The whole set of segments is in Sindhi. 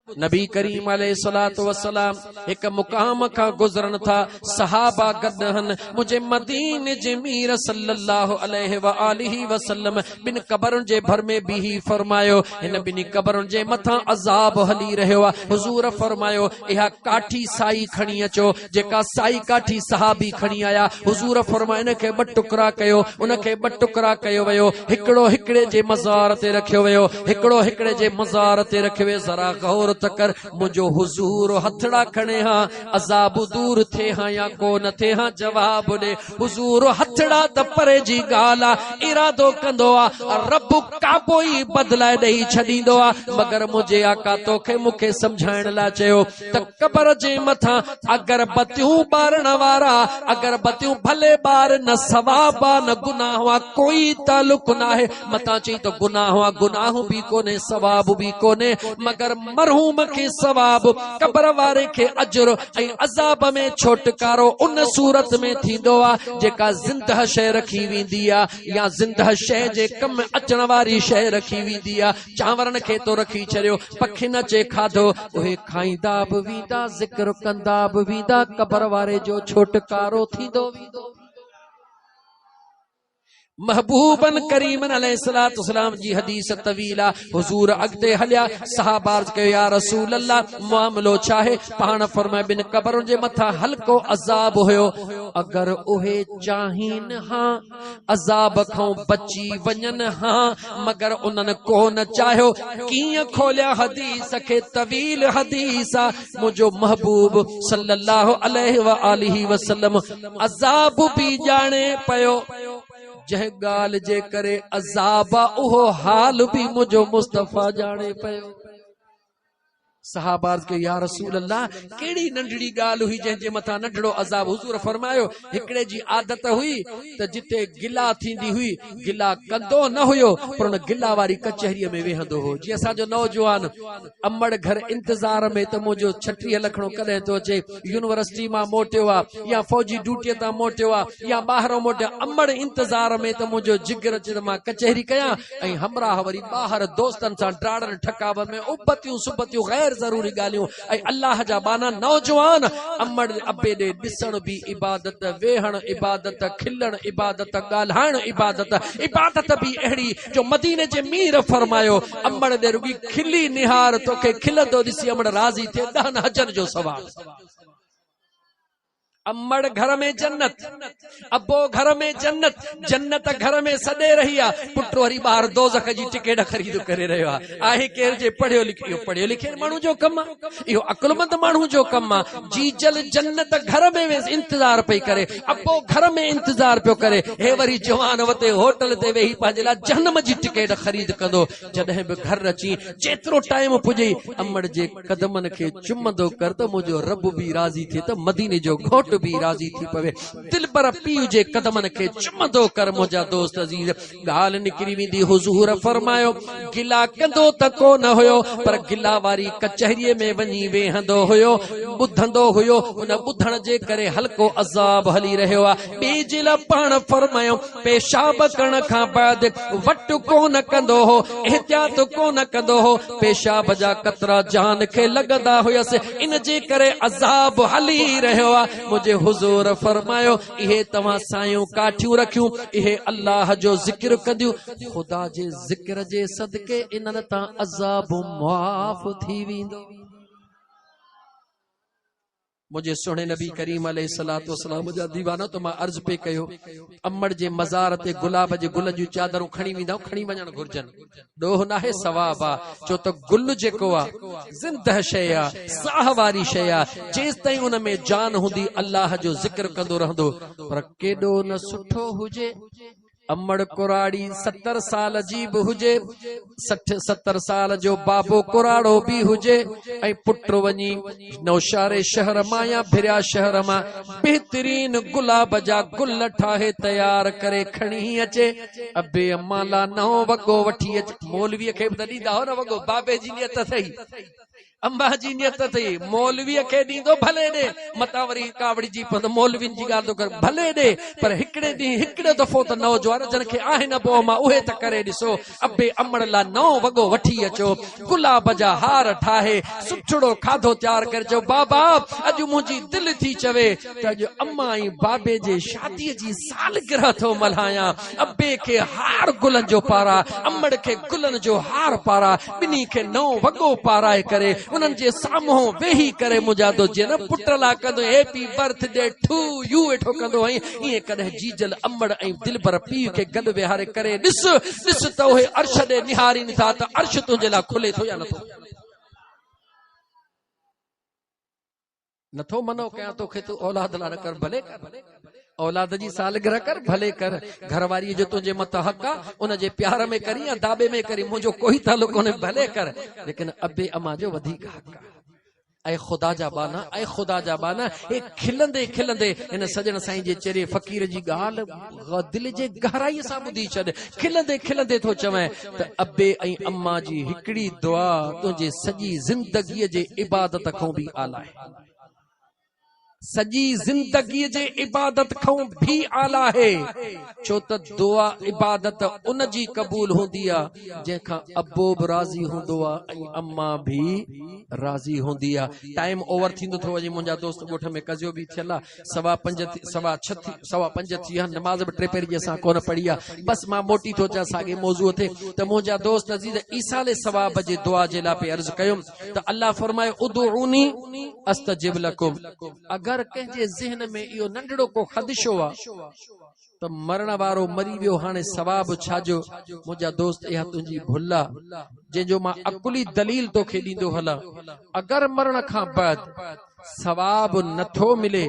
نبي ڪريم عليه الصلاة والسلام هڪ مقام کان گذرن ٿا، صحابه گڏ آهن، منهنجي مديني جي مير صلّي الله عليه واٰله وسلّم ٻن قبرن جي ڀر ۾ بيهي فرمايو، هن ٻنهي قبرن جي مٿان عذاب هلي رهيو آهي، حضور فرمايو، اها ڪاٺي سائي کڻي اچو، جيڪا سائي ڪاٺي صحابي کڻي آيا، حضور فرمايو ان کي ٻه ٽڪرا ڪيو، ان کي ٻه ٽڪرا ڪيو ويو، هڪڙو هڪڙي جي مزار تي رکيو ويو، هڪڙو هڪڙي جي مزار تي رکيو ويو، ذرا غور ته ڪر، منهنجو حضور هٿڙا کڻي ها، عذاب دور ٿئي ها يا ڪو نه ٿئي ها، جواب ڏي، حضور هٿڙا ته پري جي ڳالهه آ، ارادو ڪندو آ، رب ڪابو ئي بدلائي ڏئي ڇڏيندو آ، مگر منهنجي آقا توکي مون کي سمجهائڻ لاء چيو. ته قبر جي مٿان اگربتيون ٻارڻ وارا اگربتيون ڀلي ٻار نه ثواب آ نه گناهه آ ڪوئي تعلق ناهي متان چئي ته گناهه آ گناهه به ڪونهي ثواب به ڪونهي مگر مرحوم کي ثواب قبر واري کي اجر ۽ عذاب ۾ ڇوٽڪارو ان صورت ۾ ٿيندو آ جيڪا زندهه شيء رکي ويندي آ يا زندهه شيء جي ڪم اچڻ واري شيء رکي ويندي آ چانورن کي تو رکي ڇڏيو پکين اچي کاڌو، اهي کائيندا به ويندا، ذڪر ڪندا به ويندا، قبر واري جو ڇوٽڪارو ٿيندو ويندو. محبوب ڪريم عليه السلام جي حديث طويل آ. حضور اڳتي هليا، صحابه عرض ڪيو، يا رسول الله معاملو ڇاهي؟ پاڻ فرمايو، ٻن قبرن جي مٿان هلڪو عذاب هيو، اگر اهي چاهين ها. عذاب کان بچي وڃن ها مگر انهن ڪو نه چاهيو ڪيئن کوليا حديث کي طويل حديث آ منهنجو محبوب صلي الله عليه وآله وسلم عذاب به ڄاڻي پيو جنهن ڳالهه جي ڪري عذاب آ اهو حال به منهنجو مصطفي ڄاڻي پيو صحابه عرض ڪيو، يا رسول الله! ڪهڙي ننڍڙي ڳالهه هئي جنهن جي مٿان ننڍڙو عذاب؟ حضور فرمايو، هڪڙي جي عادت هئي ته جتي گلا ٿيندي هئي، گلا ڪندو نه هيو پر ان گلا واري ڪچهريء ۾ ويهندو هو. جي اسان جو نوجوان امڙ گهر انتظار ۾ ته منهنجو ڇٽيهه لکڻو ڪڏهن ٿو اچي، يونيورسٽيء مان موٽيو آ يا فوجي ڊيوٽيء تان موٽيو آ يا ٻاهران موٽيو آ، امڙ انتظار ۾ ته منهنجو جگر اچي ته مان ڪچهري ڪيان، ۽ همراهه وري ٻاهر دوستن سان ڊاڙن ٺڪاو ۾ ابتيون سبتيون غير ضروري ڳالهيون ۽ الله جا ٻانها نوجوان امڙ ابي ڏي ڏسڻ به عبادت ويهڻ عبادت کلڻ عبادت ڳالهائڻ عبادت عبادت به اهڙي جو مديني جي مير فرمايو امڙ ڏي رڳي کلي نهار توکي کلندو ڏسي امڙ راضي ٿئي ڏهن حجن جو ثواب امڙ گهر ۾ جنت، ابو گهر ۾ جنت، جنت گهر ۾ سڏي رهي آ، پٽ وري ٻاهر دوزخ جي ٽڪيٽ خريد ڪري رهيو آ. آهي ڪير جي پڙهيو لکيو، اهو پڙهي لکيل ماڻهو جو ڪم آ، اهو عقلمند ماڻهو جو ڪم آ. جيجل جنت گهر ۾ ويس انتظار پئي ڪري، ابو گهر ۾ انتظار پيو ڪري، هي وري جوان وتي هوٽل تي ويهي پنهنجي لاء جهنم جي ٽڪيٽ خريد ڪندو، جڏهن به گهر اچين چيترو ٽائيم پڄئي، امڙ جي قدمن کي چمندو ڪر ته منهنجو رب به راضي ٿئي ته مديني جو گهوٽ به راضي ٿي پوي. دلبر پيء جي قدمن کي چمندو ڪر منهنجا دوست عزيز. ڳالهه نڪري ويندي حضور فرمايو، گلا ڪندو ته ڪو نه هيو پر گلا واري ڪچهريء ۾ وڃي ويهندو هيو، ٻڌندو هيو، ان ٻڌڻ جي ڪري هلڪو عذاب هلي رهيو آهي. ٻئي جي لاء پاڻ فرمايو، پيشاب ڪرڻ کان بعد وٽ ڪو نه ڪندو هو، احتياط ڪو نه ڪندو هو، پيشاب جا قطرا جان کي لڳندا هيس، ان جي ڪري عذاب هلي رهيو آ، منهنجي حضور فرمايو، اهي توهان سايون ڪاٺيون رکيون، اهي الله جو ذڪر ڪنديون، خدا جي ذڪر جي صدقي انهن تان عذاب معاف ٿي ويندو. منهنجي سهڻي نبي ڪريم عليه الصلاة والسلام جا ديوانا ته مان عرض پئي ڪيو امڙ جي مزار تي گلاب جي گلن جون چادرون کڻي ويندائون کڻي وڃڻ گهرجن ڏوهه ناهي ثواب آ ڇو ته گل جيڪو آ زنده شيء آ ساهه واري شيء آ جيستائين ان ۾ جان هوندي الله جو ذڪر ڪندو رهندو پر ڪيڏو نه سٺو هجي امڙ ڪراڙي ستر سال جي به هجي، سٺ ستر سال جو بابو ڪراڙو به هجي ۽ پٽ وڃي نوشهري شهر مان يا ڀريا شهر مان بهترين گلاب جا گل ٺاهي تيار ڪري کڻي اچي ابي امان لا نئون وڳو وٺي اچي مولوي کي به ته ڏيندا هئا نه وڳو بابي جي نيت سهي اماء جي نيت اٿئي مولويء کي ڏيندو ڀلي ڏي، متان وري ڪاوڙجي پوندو مولوين جي ڳالهه ٿو ڪري ڀلي ڏي پر هڪڙي ڏينهن هڪڙو دفعو ته نوجوان جن کي آهن ابو اما اهي ته ڪري ڏسو ابي امڙ لا نئون وڳو وٺي اچو گلاب جا هار ٺاهي سٺڙو کاڌو تيار ڪري چئو بابا اڄ منهنجي دل ٿي چوي ته اڄ امان ۽ بابي جي شادي جي سالگرهه ٿو ملهايان. ابي کي هار گلن جو پارا، امڙ کي گلن جو هار پارا، ٻنهي کي نئون وڳو پارائي ڪري انهن جي سامهون ويهي ڪري منهنجا دو جيئن نه پٽ لا ڪندو هين happy birthday to you ويٺو ڪندو هئين ائين ڪڏهن جيجل امڙ ۽ دلبر پيء کي گڏ ويهاري ڪري ڏس ڏس ته اهي عرش ڏي نهارين ٿا ته عرش تنهنجي لاء کلي ٿو يا نٿو. نٿو منع ڪيان توکي تو اولاد لا نه ڪر ڀلي ڪر اولاد جي سالگرهه ڪر ڀلي ڪر گهرواري جو تنهنجي مت حق آ ان جي پيار ۾ ڪرين يا داٻي ۾ ڪرين منهنجو ڪوئي تعلق ڪونهي ڀلي ڪر ليڪن ابي اما جو وڌيڪ حق آ اي خدا جا بانا اي خدا جا بانا اي کلندي کلندي ان سڄڻ سائين جي چري فقير جي ڳالهه دل جي گهرائي سان ٻڌي ڇڏ، کلندي کلندي ٿو چوين ته ابي ۽ امان جي هڪڙي دعا تنهنجي سڄي زندگيء جي عبادت کان به اعليٰ آهي. سڄي زندگيء جي عبادت کان به اعليٰ آهي، ڇو ته دعا عبادت ان جي قبول هوندي آهي، جنهن کان ابو به راضي هوندو آهي ۽ امان به راضي هوندي آهي. ٽائيم اوور ٿيندو ٿو وڃي منهنجا دوست ڳوٺ ۾ ڪزيو به ٿيل آهي. سوا پنج ٿي سوا ڇھ ٿي سوا پنج ٿي ويا نماز به ٽي پهر جي اسان ڪونه پڙهي آ بس مان موٽي ٿو اچان ساڳي موضوع تي ته منهنجا دوست عزيز ايصال ثواب جي دعا جي لاء پي عرض ڪيم ته الله فرمايو ادعوني استجب لكم اگر ڪنهن جي ذهن ۾ اهو ننڍڙو ڪو خدشو آ ته مرڻ وارو مري ويو هاڻي ثواب ڇا جو؟ منهنجا دوست اها تنهنجي ڀل آ جنهن جو مان عقلي دليل توکي ڏيندو هلان اگر مرڻ کان بعد ثواب نه ٿو ملي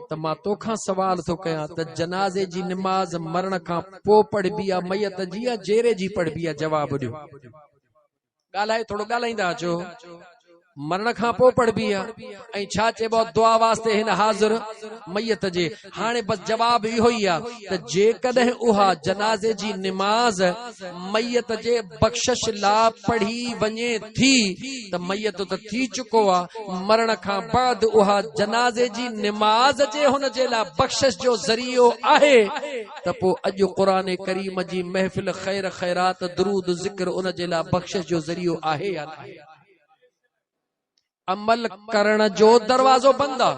ته مان توکان سوال ٿو ڪيان ته جنازي جي نماز مرڻ کان پوء پڙهبي آ ميت جي يا جيري جي پڙهبي آ جواب ڏيو. ڳالهائي ٿورو ڳالهائيندا اچو مرڻ کان پوء پڙھبي آ ۽ ڇا چئبو دعا واسطي هن حاضر ميت جي هاڻي بس جواب اهو ئي آ ته جيڪڏهن اها جنازي جي نماز ميت جي بخشش لا پڙهي وڃي ٿي ته ميت ته ٿي چڪو آ مرڻ کان بعد اها جنازي جي نماز جي هن جي لا بخشش جو ذريعو آهي ته پوء اڄ قرآن ڪريم جي محفل خير خيرات درود ذڪر ان جي لاء بخشش جو ذريعو آهي يا ناهي؟ عمل ڪرڻ جو دروازو بند آ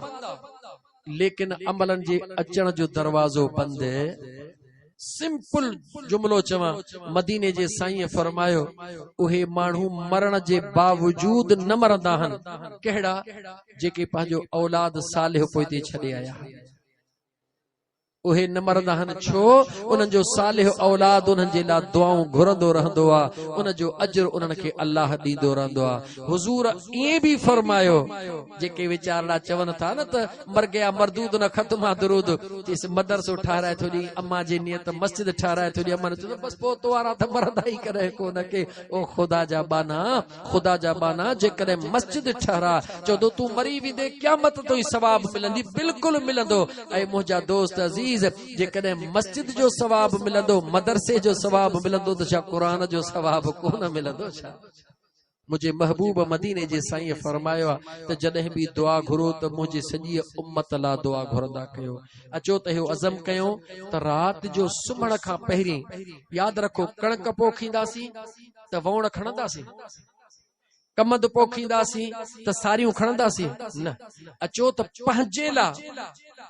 ليڪن عملن جي اچڻ جو دروازو بند سمپل جملو چوان مديني جي سائين فرمايو اهي ماڻهو مرڻ جي باوجود نه مرندا آهن ڪهڙا جيڪي پنهنجو اولاد صالح پوئتي ڇڏي آيا آهن اهي نه مرندا آهن ڇو انهن جو صالح اولاد انهن جي لاء دعائون گهرندو رهندو آهي ان جو اجر انهن کي الله ڏيندو رهندو آهي حضور ائين به فرمايو جيڪي ويچارڙا چون ٿا نه ته مرگيا مردود نه ختم آ درود چيس مدرسو ٺهرائي ٿو ڏي اما جي نيت مسجد ٺهرائي ٿو ڏي اما نه چيس بس پوء توارا ته مرندا ئي ڪڏهن ڪو نه ڪي او خدا جا ٻانها خدا جا ٻانها جيڪڏهن مسجد ٺهراء چوندو تون مري ويندين قيامت تائين ثواب ملندي بلڪل ملندو اي منهنجا دوست عزيز جيڪڏهن مسجد جو ثواب ملندو مدرسي جو ثواب ملندو ته ڇا قرآن جو ثواب ڪونه ملندو ڇا منهنجي محبوب مديني جي سائين فرمايو آ ته جڏهن به دعا گهرو ته منهنجي سڄي امت لا دعا گهرندا ڪيو اچو ته اهو عزم ڪيون ته رات جو سمهڻ کان پهرين ياد رکو ڪڻڪ پوکينداسين ته ووڻ کڻنداسين؟ ڪمند پوکينداسين ته ساريون کڻنداسين؟ نه، اچو ته پنهنجي لاء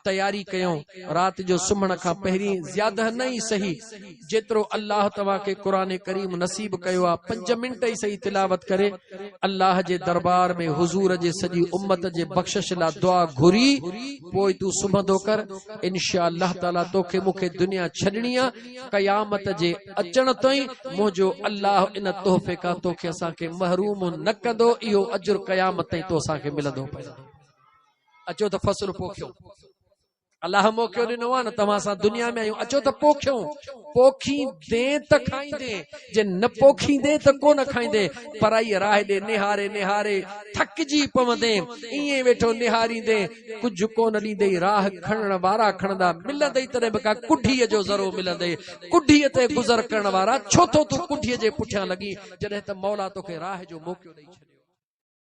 تياري ڪيون، رات جو سمهڻ کان پهرين زياده نه ئي سهي جيترو الله توهان کي قرآن ڪريم نصيب ڪيو آهي پنج منٽ ئي سهي تلاوت ڪري الله جي دربار ۾ حضور جي سڄي امت جي بخشش لاء دعا گهري پوء تون سمهندو ڪر انشاء الله تعاليٰ توکي مونکي دنيا ڇڏڻي آهي قيامت جي اچڻ تائين منهنجو الله ان تحفي کان تو کي اسان کي محروم نه ڪندو، اهو اجر قيامت تائين تو اسان کي ملندو پئي. اچو ته فصل پوکيون. الله موقعو ڏنو آهي نه توهان سان دنيا ۾ آيون اچو ته پوکيون پوکيندين ته کائيندين جي نه پوکيندين ته ڪو نه کائيندين پرائي راهه ڏي نهاري نهاري ٿڪجي پوندين ائين ويٺو نهاريندين ڪجهه ڪونه ڏيندئي، راهه کڻڻ وارا کڻندا، ملندئي تڏهن به ڪا ڪڍيء جو ذرو ملندئي، ڪڍيء تي گذر ڪرڻ وارا ڇو ٿو تون ڪڍيء جي پٺيان لڳين، جڏهن ته مولا توکي راهه جو موقعو ڏئي ڇڏيو.